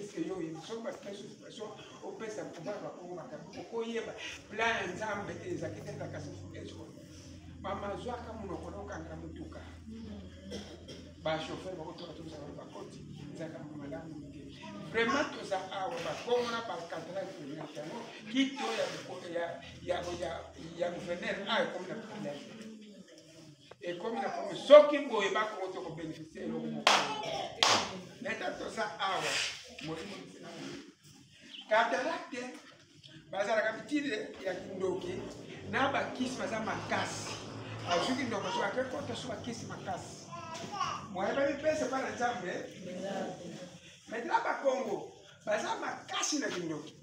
eske yo oyebi soki basipesa occupation opesa pouvoir bakongo makambo okoyeba plan ya nzambe te ezalaki te kaka sifukeswa mama zwaka monoko nokangela motuka bachauffeur bakotoka tozala bakoti ezalaka malamu te vraiment toza awa bakongo na bacadral president yango kito ya gouverneur ayo ekomi na problème ekomi na komi soki boye bakongo te kobenefisi eloko moko neta toza awa molimo ntina katarate bazalaka bitide ya kindoki na bakisi baza makasi azwi kindoki soki ake kota so bakisi makasi moye bamipesa epai na nzambe maintenant bakongo baza makasi na kindoki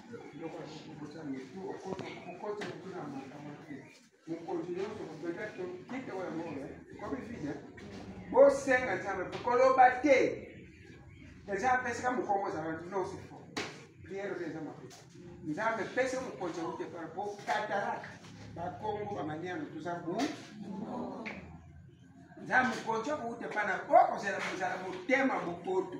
bosenga nzambe mpe koloba te eza apesaka mokongo ozala nyonso fo priere mpe eza mabe nzambe pese mokonzi aute par po katalaka bakongo bamaniano toza bu nzambe mokonzi akoute pana o kozala motema mokoto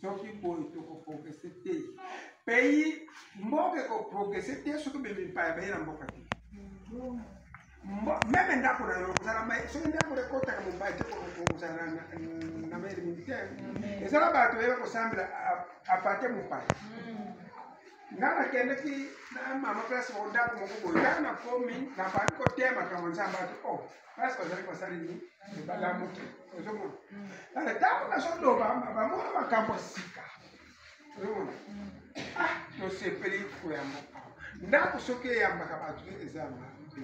soki boye tokoprogrese te pays mboka ekoprogrese te soki bemipaya baye na mboka te meme ndako na yo kozala mai soki ndako ekotaka mobali te kozala na mai militaire ezala bato baye bakosambela apate mopaya nga nakendeki na mama place moko ndako moko boye nga nakomi nabandi kotema kama nzambe ati o oh, basi bazali kosali nini balamuki ozomona ale ntango nazoloba bamona makambo sika ozomona ah tosepeli koyamba ndako soki eyambaka bato eza mabe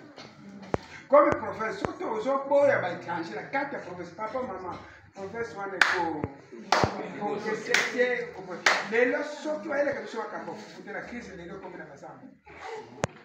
comme province soki ozoboya baétranger na kati ya province papa mama province wana ekokesete lelo soki bayeleka biso makambo fufu te na crise lelo ekomi na bazambo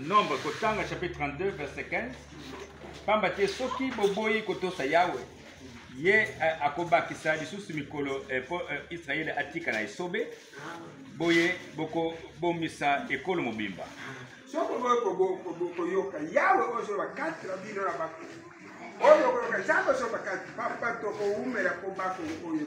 nombre kotanga chapitre 32 verset 15 pamba te soki boboyi kotosa yawe ye eh, akobakisa lisusu mikolo eh, mpo eh, israele atikala esobe boye bokobomisa ekolo mobimba soki oboyi koyoka yawe oyo bakati na bino na bato oyo okoyoka nzambe oyo bakati papa tokowumela mpo bato oyo